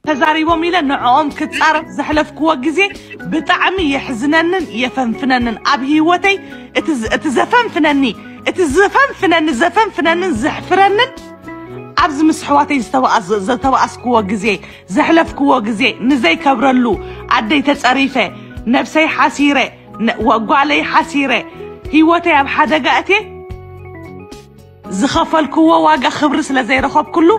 ተዛሪቦም ኢለ ንዕኦም ክፃረፍ ዘሕለፍክዎ ግዜ ብጣዕሚ የሕዝነንን የፈንፍነንን ኣብ ህይወተይ እቲ ዘፈንፍነኒ እቲ ዘፈንፍነኒ ዘፈንፍነንን ዘሕፍረንን ኣብዚ ምስ ኣሕዋተይ ዝተባኣስክዎ ግዜ ዘሕለፍክዎ ግዜ ንዘይከብረሉ ኣደይ ተፀሪፈ ነብሰይ ሓሲረ ጓለይ ሓሲረ ህይወተይ ኣብ ሓደጋ እትየ ዝኸፈልክዎ ዋጋ ክብሪ ስለ ዘይረኸብኩሉ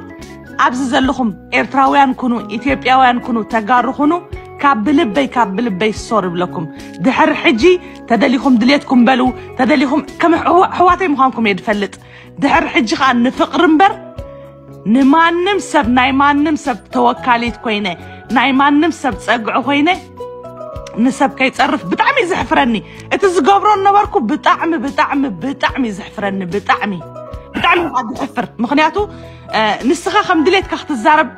ኣብዚ ዘለኹም ኤርትራውያን ኩኑ ኢትዮጵያውያን ኩኑ ተጋሩ ኩኑ ካብ ብልበይ ካብ ብልበይ ሶር ይብለኩም ድሕሪ ሕጂ ተደሊኹም ድሌትኩም በሉ ተደሊኹም ከም ኣሕዋተይ ምዃንኩም እየ ድፈልጥ ድሕሪ ሕጂ ከዓ ንፍቕሪ እምበር ንማንም ሰብ ናይ ማንም ሰብ ተወካሊት ኮይነ ናይ ማንም ሰብ ፀግዒ ኮይነ ንሰብ ከይፀርፍ ብጣዕሚ እዩ ዘሕፍረኒ እቲ ዝገብሮ ነበርኩ ብጣዕሚ ብጣዕሚ ብጣዕሚ እዩ ዘሕፍረኒ ብጣዕሚ ብጣዕሚ ካብ ዝሕፍር ምክንያቱ አ፣ ንስኻ ከም ድሌትካ ክትዛረብ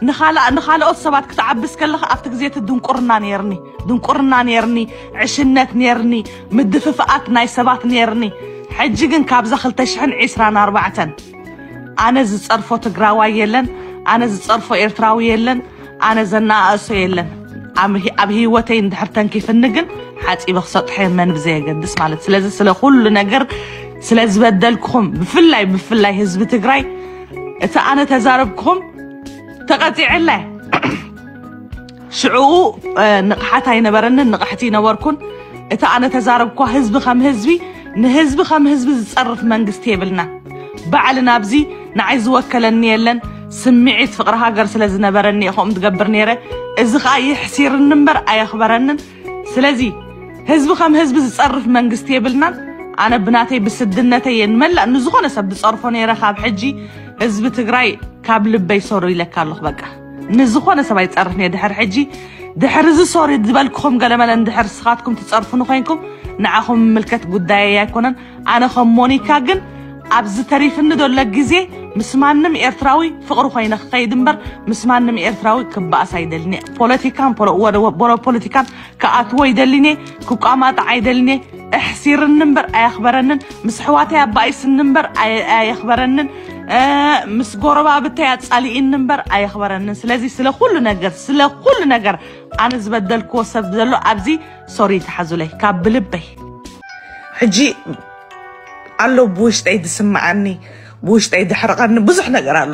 ንኻላ- ንኻልኦት ሰባት ክትዓብስ ከለካ ኣብቲ ግዜ እቲ ድንቁርና ነይርኒ ድንቁርና ነይርኒ ዕሽነት ነይርኒ ምድፍፍኣት ናይ ሰባት ነይርኒ ሕጂ ግን ካብዛ 224 ኣነ ዝፀርፎ ትግራዋይ የለን ኣነ ዝፀርፎ ኤርትራዊ የለን ኣነ ዘነኣእሶ የለን ኣም- ኣብ ህይወተይ እንድሕር ተንኪፍኒ ግን ሓፂበ ክሰጥሖ የመን ብዘየገድስ ማለት ስለዚ ስለ ኩሉ ነገር ስለ ዝበደልኩኹም ብፍላይ ብፍላይ ህዝቢ ትግራይ እቲ ኣነ ተዛረብኩኹም ተቐፂዕለ ሽዕኡ ንቕሓት ኣይነበረንን ንቕሕቲ ይነበርኩን እቲ ኣነ ተዛረብኳ ህዝቢ ከም ህዝቢ ንህዝቢ ከም ህዝቢ ዝጸርፍ መንግስቲ የብልና ባዕል ናብዚ ንዓይ ዝወከለኒ የለን ስምዒት ፍቕሪ ሃገር ስለ ዝነበረኒ እየ ከምኡ ትገብር ነይረ እዚ ከዓ የሕሲርኒ እምበር ኣየኽበረንን ስለዚ ህዝቢ ከም ህዝቢ ዝጸርፍ መንግስቲ የብልናን ኣነ ብናተይ ብስድነተይ እየ ንመላእ ንዝኾነ ሰብ ዝጸርፎ ነይረ ካብ ሕጂ ህዝቢ ትግራይ ካብ ልበይ ሰሩ ኢለካ ኣለኹ በቃ ንዝኾነ ሰብ ኣይፀርፍን እየ ድሕር ሕጂ ድሕር እዚ ሶሪ ዝበልክኹም ገለመለ እንድሕር ስኻትኩም ትፀርፉኒ ኮይንኩም ንዓኹም ምልከት ጉዳየይ ኣይኮነን ኣነ ከም ሞኒካ ግን ኣብዚ ተሪፍኒ ዘሎ ግዜ ምስ ማንም ኤርትራዊ ፍቕሪ ኮይነ ክኸይድ እምበር ምስ ማንም ኤርትራዊ ክበኣስ ኣይደልን እየ ፖለቲካን ፖለቲካን ክኣትዎ ይደሊኔ ክቋማጣዕ ኣይደሊኔ እሕሲርኒ እምበር ኣየኽበረንን ምስ ኣሕዋተይ ኣባኢስኒ እምበር ኣየ- ኣየኽበረንን እ፣ ምስ ጎረባብተይ ኣጻሊኢኒ እምበር ኣየኽበረንን ስለዚ ስለ ኩሉ ነገር ስለ ኩሉ ነገር ኣነ ዝበደልክዎ ሰብ ዘሎ ኣብዚ ሶሪ ተሓዙለይ ካብ ብልበይ ሕጂ ኣሎ ብውሽጠይ ዝስምዓኒ ብውሽጠይ ዝሕርቐኒ ብዙሕ ነገር ኣሎ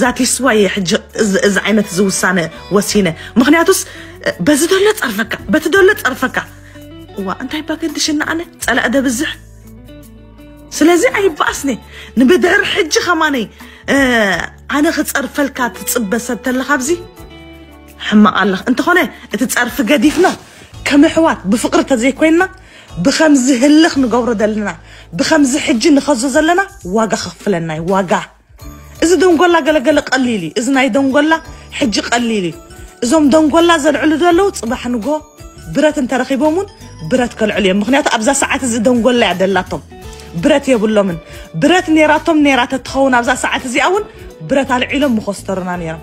ዛቲስ ዋይ እየ ሕጂ እዚ- እዚ ዓይነት እዚ ውሳነ ወሲነ ምክንያቱስ እ፣ በዚ ደሎ ፀርፈካ በቲ ደሎ ፀርፈካ እዋ እንታይ ባገድሽና ኣነ ፀላእ ደብዝሕ ስለዚ ኣይበኣስኒ ንብድሕር ሕጂ ከማነይ እ፣ ኣነ ክፀርፈልካ ትፅበ ሰብ ተለካ ኣብዚ ሕማቕ ኣለኽ እንተኾነ እቲ ፀርፊ ገዲፍና ከም ኣሕዋት ብፍቕሪ ተዘይኮይንና ብኸምዚ ህልኽ ንገብሮ ዘለና ብኸምዚ ሕጂ ንኸዞ ዘለና ዋጋ ከኽፍለና እዩ ዋጋ እዚ ደንጎላ ገለገለ ቀሊል እዩ እዚ ናይ ደንጎላ ሕጂ ቀሊል እዩ እዞም ደንጎላ ዘልዕሉ ዘለዉ ጽባሕ ንጎ ብረት እንተረኺቦም እውን ብረት ከልዕሉ እዮም ምክንያቱ ኣብዛ ሰዓት እዚ ደንጎላ እያ ደላቶም ብረት የብሎምን ብረት ኔራቶም ኔራ ተትኸውን ኣብዛ ሰዓት እዚኣ እውን ብረት ኣልዒሎም ምኾስተሩና ኔሮም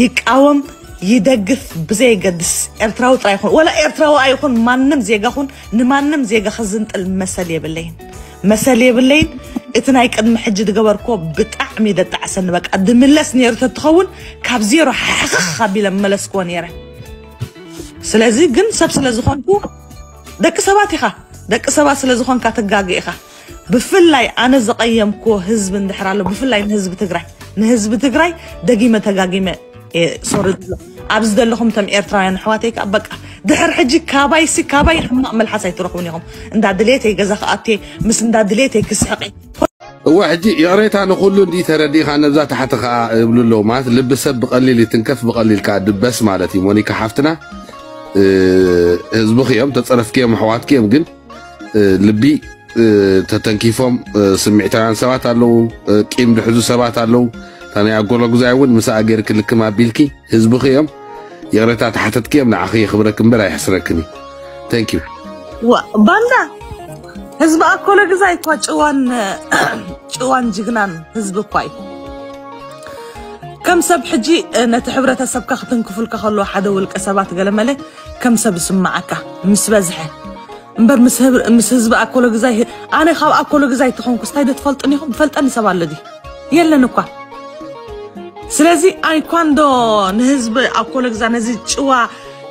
ይቃወም ይደግፍ ብዘየገድስ ኤርትራዊ ጥራይ ይኹን ወላ ኤርትራዊ ኣይኹን ማንም ዜጋ ኹን ንማንም ዜጋ ክዝንጥል መሰል የብለይን መሰል የብለይን እቲ ናይ ቅድሚ ሕጂ ዝገበርክዎ ብጣዕሚ ደጣዕሰኒ በቃ ድምለስ ነይሩ ተትኸውን ካብ ዜሮ ሓኽኽ ኣቢለ መለስክዎ ነይረ ስለዚ ግን ሰብ ስለ ዝኾንኩ ደቂ ሰባት ኢኻ ደቂ ሰባት ስለ ዝኾንካ ትጋገ ኢኻ ብፍላይ ኣነ ዝቐየምክዎ ህዝቢ እንድሕር ኣሎ ብፍላይ ንህዝቢ ትግራይ ንህዝቢ ትግራይ ደጊመ ተጋጊመ ሶሪ ኣብዚ ዘለኹም ቶም ኤርትራውያን ኣሕዋተይ ከዓ በቃ ድሕር ሕጂ ካባይ ሲ ካባይ ሕማቕ መልሓስ ኣይትረኽቡን ኢኹም እንዳ ድሌተይ ገዛ ክኣት ምስ እንዳ ድሌተይ ክስሕቕ እወ ሕጂ ይቕሬታ ንኹሉ እንዲ ተረዲኻ ነብዛ ታሕቲ ከዓ እብሉ ኣለዉ ማለት ልቢ ሰብ ብቐሊል ይትንከፍ ብቐሊል ከዓ ድበስ ማለት እዩ ሞኒካ ሓፍትና ህዝብኺ እዮም ተፀረፍኪ እዮም ኣሕዋትኪ እዮም ግን ልቢ ተተንኪፎም ስምዒታውያን ሰባት ኣለዉ፣ ቂም ድሕዙ ሰባት ኣለዉ። እታ ናይ ኣጎሎጉዛይ እውን ምስኣ ገይርኪ ልክም ኣቢልኪ ህዝብኺ እዮም ይቕሬታ ተሓተትኪ እዮም ንዓኺ የኽብረኪ እምበር ኣይሕስረክን እዩ። ታንክ ዩ ባንዳ ህዝቢ ኣኮሎግዛይ እኳ ጭዋን ጭዋን ጅግናን ህዝቢ እኳ እዩ። ከም ሰብ ሕጂ ነቲ ሕብረተሰብካ ክትንክፉልካ ከለዎ ሓደ ውልቀ ሰባት ገለመለ ከም ሰብ ዝስምዓካ ምስ በዝሐ እምበር ምስ ህብ- ምስ ህዝቢ ኣኮሎ ግዛይ ህ- ኣነ ካብ ኣኮሎ ግዛይ ተኾንኩስ እንታይ ዶ ትፈልጥኒ ኢኹም ዝፈልጠኒ ሰብ ኣሎ ድዩ የለን እኳ ስለዚ ኣይኳን ዶ ንህዝቢ ኣኮሎ ግዛ ነዚ ጭዋ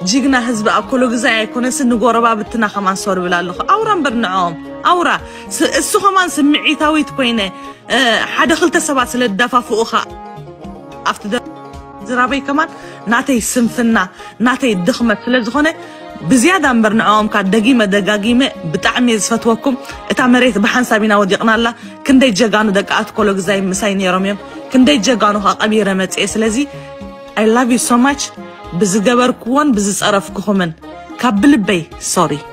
ጅግና ህዝቢ ኣኮሎ ግዛ ኣይኮነስ ንጎረባብትና ከማን ሰሩ ይብል ኣለኹ ኣውራ እምበር ንዕኦም ኣውራ ስ- እሱ ከማን ስምዒታዊት ኮይነ እ፣ ሓደ ክልተ ሰባት ስለ ዝደፋፍኡኻ ኣብቲ ዝራበይ ከማን ናተይ ስንፍና ናተይ ድኽመት ስለ ዝኾነ ብዝያዳ እምበር ንዕኦም ከኣ ደጊመ ደጋጊመ ብጣዕሚ እየ ዝፈትወኩም እታ መሬት ብሓንሳብ ኢና ወዲቕና ኣላ ክንደይ ጀጋኑ ደቂ ኣትኮሎግዛይ ምሳይ ነይሮም እዮም ክንደይ ጀጋኑ ከኣ ቀቢረ መጽኤ ስለዚ I love you so much ብዝገበርክዎን ብዝጸረፍክኹምን ካብ ብልበይ ሶሪ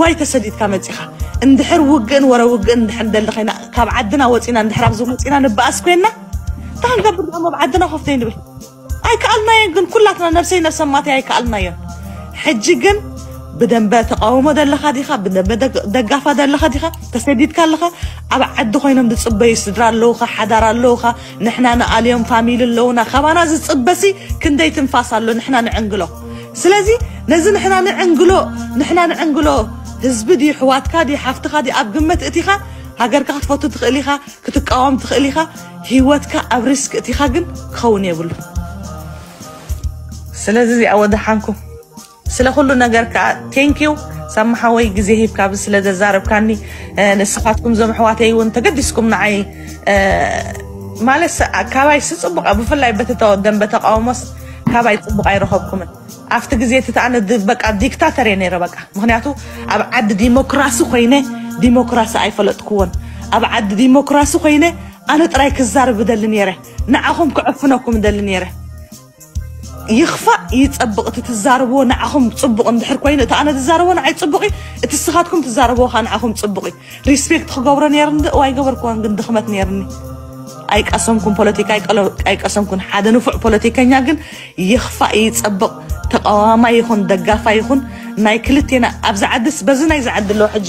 ዋይ ተሰዲድካ መጺኻ እንድሕር ውግእን ወረ ውግእን እንድሕር ንደሊ ኮይና ካብ ዓድና ወፂና እንድሕር ኣብዚ መፂና ንበኣስ ኮይና እንታይ ክንገብር ደሞ ኣብ ዓድና ኮፍ ዘይንብል ኣይከኣልናዮን ግን ኩላትና ነብሰይ ነብሰ ማተይ ኣይከኣልናዮን ሕጂ ግን ብደንበ ተቃውሞ ደለካ ዲካ ብደንበ ደግ- ደጋፋ ደለካ ዲካ ተሰዲድካ ኣለካ ኣብ ዓዲ ኮይኖም ዝፅበዩ ስድራ ኣለውካ ሓዳር ኣለውካ ንሕና ንኣልዮም ፋሚሊ ኣለዉና ካባና ዝጽበሲ ክንደይ ትንፋስ ኣሎ ንሕና ንዕንግሎ ስለዚ ነዚ ንሕና ንዕንግሎ ንሕና ንዕንግሎ ህዝቢ ድዩ ሕዋትካ ድዩ ሓፍትኻ ድዩ ኣብ ግመት እቲኻ ሃገርካ ክትፈቱ ትኽእል ኢኻ ክትቃወም ትኽእል ኢኻ ሂወትካ ኣብ ሪስክ እቲኻ ግን ክኸውን የብሉ ስለዚ እዚኣ ወደሓንኩም ስለ ኩሉ ነገር ከዓ ቴንኪው ሳሚ ሓወይ ግዜ ሂብካ ብ ስለ ዘዛረብካኒ ንስኻትኩም ዞም ኣሕዋተይ እውን ተገዲስኩም ንዓይ ማለት ካባይ ስፅቡቅ ብፍላይ በቲ ደንበ ተቃውሞስ ካባይ ፅቡቅ ኣይረኸብኩምን ኣብቲ ግዜ እቲ ተኣነ በቃ ዲክታተር እየ ነይረ በቃ ምክንያቱ ኣብ ዓዲ ዲሞክራሲ ኮይነ ዲሞክራሲ ኣይፈለጥክዎን ኣብ ዓዲ ዲሞክራሲ ኮይነ ኣነ ጥራይ ክዛርብ ደሊ ነይረ ንዓኹም ክዕፍነኩም ደሊ ነይረ ይኽፋእ ይጸብቕ እቲ ትዛረብዎ ንዓኹም ጽቡቕ እንድሕር ኮይኑ እቲ ኣነ ትዛረቦ ንዓይ ጽቡቕ እዩ እቲ ስኻትኩም ትዛረብዎ ከዓ ንዓኹም ጽቡቕ እዩ ሪስፔክት ክገብሮ ነይርኒ ዶ እዋይ ገበርክዎን ግን ድኽመት ነይርኒ ኣይቀሰምኩን ፖለቲካ ኣይቀሰምኩን ሓደ ንፉዕ ፖለቲከኛ ግን ይኽፋእ ይጸብቕ ተቃዋማይ ይኹን ደጋፋይ ይኹን ናይ ክልቴና ኣብዚ ዓድስ በዚ ናይዚ ዓዲ ኣለዎ ሕጂ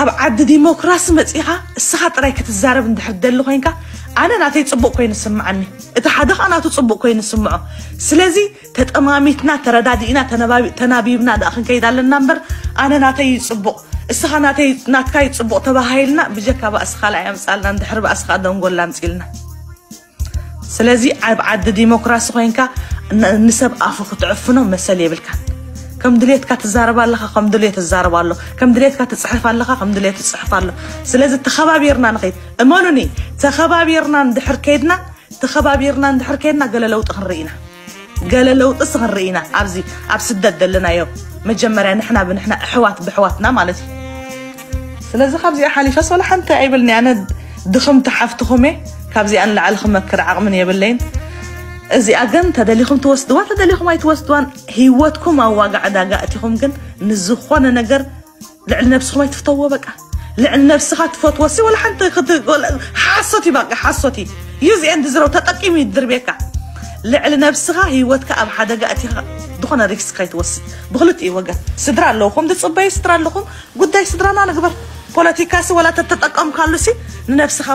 ኣብ ዓዲ ዲሞክራሲ መጺኻ እስኻ ጥራይ ክትዛረብ እንድሕር ትደሊ ኮይንካ ኣነ ናተይ ጽቡቅ ኮይኑ ዝስምዓኒ እቲ ሓደ ከኣ ናቱ ጽቡቅ ኮይኑ ዝስምዖ ስለዚ ተጠማሚትና ተረዳዲእና ተናቢብና ደኣ ክንከይድ ኣለና እምበር ኣነ ናተይ እዩ ጽቡቅ እስኻ ናተይ ናትካ እዩ ጽቡቅ ተባሃሂልና ብጀካ ባእሲ ካልኣይ ኣምጻልና እንድሕር ባእሲ ከኣ ደንጎላ ኣምጺልና ስለዚ ኣብ ዓዲ ዲሞክራሲ ኮይንካ ንሰብ ኣፉ ክትዕፍኖ መሰል የብልካን። ከም ድሌትካ ትዛረብ ኣለኻ ከም ድሌት ትዛረብ ኣሎ ከም ድሌትካ ትፅሕፍ ኣለኻ ከም ድሌት ትፅሕፍ ኣሎ ስለዚ ተኸባቢርና ንኸይድ እመኑኒ ተኸባቢርና እንድሕር ከይድና ተኸባቢርና እንድሕር ከይድና ገለ ለውጢ ክንርኢ ኢና ገለ ለውጥስ ክንርኢ ኢና ኣብዚ ኣብ ስደት ዘለናዮ መጀመርያ ንሕና ብንሕና ኣሕዋት ብሕዋትና ማለት እዩ ስለዚ ካብዚኣ ሓሊፈ ሶላ ሓንቲ ኣይብልኒ ኣነ ድኽምቲ ሓፍትኹም እየ ካብዚኣ ንላዕሊ ክመክር ዓቕምን የብለይን እዚኣ ግን ተደሊኹም ትወስድዋ ተደሊኹም ኣይትወስድዋን ሂወትኩም ኣብ ዋጋ ዕዳጋ እቲኹም ግን ንዝኾነ ነገር ልዕሊ ነብስኹም ኣይትፍተዎ በቃ ልዕሊ ነብስኻ ትፈትወሲ ወላ ሓንቲ ሓሶት እዩ በቃ ሓሶት እዩ ዩዝ ኤንድ ዝረው ተጠቂሙ እዩ ድርቤካ ልዕሊ ነብስኻ ህይወትካ ኣብ ሓደጋ እቲኻ ዝኾነ ሪክስ ከይትወስድ ብክልቲኡ ወገን ስድራ ኣለውኹም ዝፅበዩ ስድራ ኣለኹም ጉዳይ ስድራና ንግበር ፖለቲካሲ ወላ ተተጠቀምካሉሲ ንነብስኻ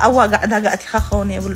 ኣዋጋዕ ዕዳጋ እቲኻ ክኸውን የብሉ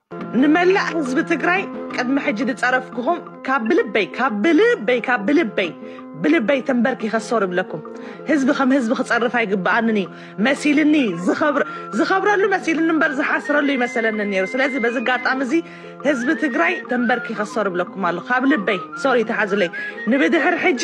ንመላእ ህዝቢ ትግራይ ቅድሚ ሕጂ ዝጸረፍኩኹም ካብ ብልበይ ካብ ብልበይ ካብ ብልበይ ብልበይ ተንበርኪኸ ሶር እብለኩም ህዝቢ ከም ህዝቢ ክጸርፍ ኣይግብኣንን እዩ መሲልኒ ዝኸብረሉ መሲልኒ እምበር ዝሓስረሉ ይመሰለኒ ነይሩ ስለዚ በዚ ኣጋጣሚ እዚ ህዝቢ ትግራይ ተንበርኪኸ ሶር እብለኩም ኣሎ ካብ ልበይ ሶር ይተሓዙለይ ንብድሕር ሕጂ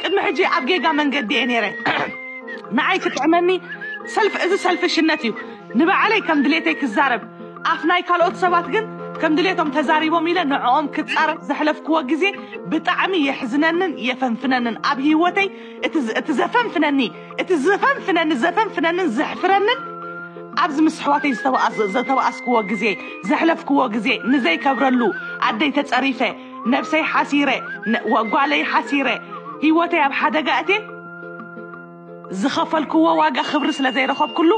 ቅድሚ ሕጂ ኣብ ጌጋ መንገዲ እየ ነይረ ንዓይ ክጥዕመኒ ሰልፍ እዚ ሰልፍሽነት እዩ ንባዕለይ ከም ድሌተይ ክዛረብ ኣፍ ናይ ካልኦት ሰባት ግን ከም ድሌቶም ተዛሪቦም ኢለ ንዕኦም ክጻረፍ ዘሕለፍክዎ ግዜ ብጣዕሚ የሕዝነንን የፈንፍነንን ኣብ ሂወተይ እቲ እቲ ዘፈንፍነኒ እቲ ዘፈንፍነኒ ዘፈንፍነንን ዘሕፍረንን ኣብዚ ምስ ኣሕዋተይ ዝተባኣስ ዘተባኣስክዎ ግዜ ዘሕለፍክዎ ግዜ ንዘይከብረሉ ኣደይ ተጸሪፈ ነብሰይ ሓሲረ ጓለይ ሓሲረ ሂወተይ ኣብ ሓደጋ እቴ ዝኸፈልክዎ ዋጋ ክብሪ ስለ ዘይረኸብኩሉ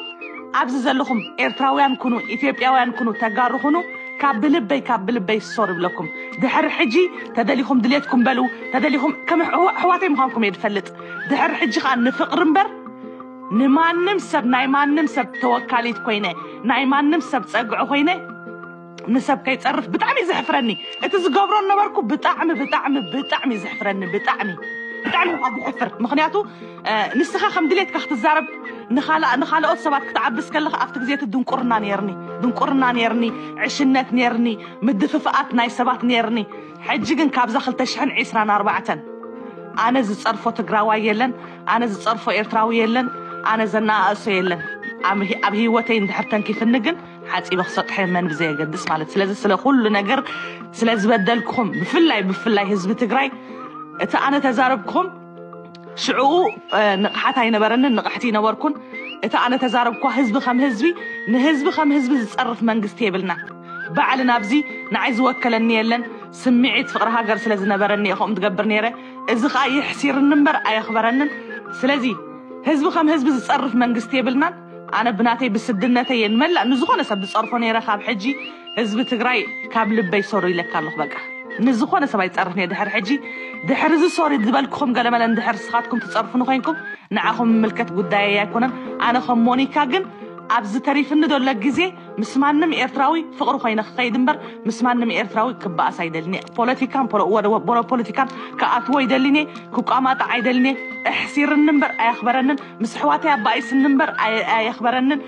ኣብዚ ዘለኹም ኤርትራውያን ኩኑ ኢትዮጵያውያን ኩኑ ተጋሩ ኩኑ ካብ ብልበይ ካብ ብልበይ ሶር ይብለኩም ድሕሪ ሕጂ ተደሊኹም ድሌትኩም በሉ ተደሊኹም ከም ኣሕዋተይ ምዃንኩም እየ ዝፈልጥ ድሕሪ ሕጂ ከዓ ንፍቕሪ እምበር ንማንም ሰብ ናይ ማንም ሰብ ተወካሊት ኮይነ ናይ ማንም ሰብ ፀግዒ ኮይነ ንሰብ ከይፀርፍ ብጣዕሚ እዩ ዘሕፍረኒ እቲ ዝገብሮ ነበርኩ ብጣዕሚ ብጣዕሚ ብጣዕሚ እዩ ዘሕፍረኒ ብጣዕሚ ብጣዕሚ እኳ ዝሕፍር ምክንያቱ እ፣ ንስኻ ከም ድሌትካ ክትዛረብ ንኻልኣ- ንኻልኦት ሰባት ክትዓብስ ከለኻ ኣብቲ ግዜ እቲ ድንቁርና ነርኒ ድንቁርና ነርኒ ዕሽነት ነርኒ ምድፍፍኣት ናይ ሰባት ነርኒ ሕጂ ግን ካብዛ 224 ኣነ ዝፀርፎ ትግራዋይ የለን ኣነ ዝፀርፎ ኤርትራዊ የለን ኣነ ዘነኣእሶ የለን ኣብ ኣብ ህይወተይ እንድሕር ተንኪፍኒ ግን ሓጺበ ክሰጥሐ መን ብዘየገድስ ማለት ስለዚ ስለ ኩሉ ነገር ስለ ዝበደልኩም ብፍላይ ብፍላይ ህዝቢ ትግራይ እቲ ኣነ ተዛረብኩም ሽዕኡ ንቕሓት ኣይነበረንን ንቕሕቲ ይነበርኩን እቲ ኣነ ተዛረብኳ ህዝቢ ከም ህዝቢ ንህዝቢ ከም ህዝቢ ዝፀርፍ መንግስቲ የብልና ባዕል ናብዚ ንዓይ ዝወከለኒ የለን ስምዒት ፍቕሪ ሃገር ስለ ዝነበረኒ እየ ከምኡ ትገብር ነይረ እዚ ከዓ የሕሲርኒ እምበር ኣየኽበረንን ስለዚ ህዝቢ ከም ህዝቢ ዝፀርፍ መንግስቲ የብልናን ኣነ ብናተይ ብስድነተይ እየ ንመላእ ንዝኾነ ሰብ ዝጸርፎ ነይረ ካብ ሕጂ ህዝቢ ትግራይ ካብ ልበይ ሶሪ ኢለካ ኣለኹ በቃ ንዝኾነ ሰብ ኣይጸርፍን እየ ድሕሪ ሕጂ ድሕሪ እዚ ሶሪ ዝበልክኹም ገለመለ እንድሕር ንስኻትኩም ትጸርፉኒ ኮይንኩም ንዓኹም ምምልከት ጉዳየይ ኣይኮነን ኣነ ከም ሞኒካ ግን ኣብዚ ተሪፍኒ ዘሎ ግዜ ምስ ማንም ኤርትራዊ ፍቕሪ ኮይነ ክኸይድ እምበር ምስ ማንም ኤርትራዊ ክበኣስ ኣይደልን እየ። ፖለቲካን ፖለቲካን ክኣትዎ ኣይደልን እየ፣ ክቋማጣዕ ኣይደልን እየ። ኣሕሲርኒ እምበር ኣየኽበረንን፣ ምስ ኣሕዋተይ ኣባኢስኒ እምበር ኣየኽበረንን፣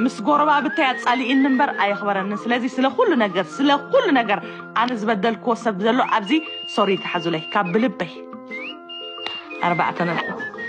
ምስ ጎረባብተይ ኣጻሊኢኒ እምበር ኣየኽበረንን። ስለዚ ስለ ኩሉ ነገር ስለ ኩሉ ነገር ኣነ ዝበደልክዎ ሰብ ዘሎ ኣብዚ ሶሪ ተሓዙለይ ካብ ብልበይ ኣርባዕተ ነጥቢ።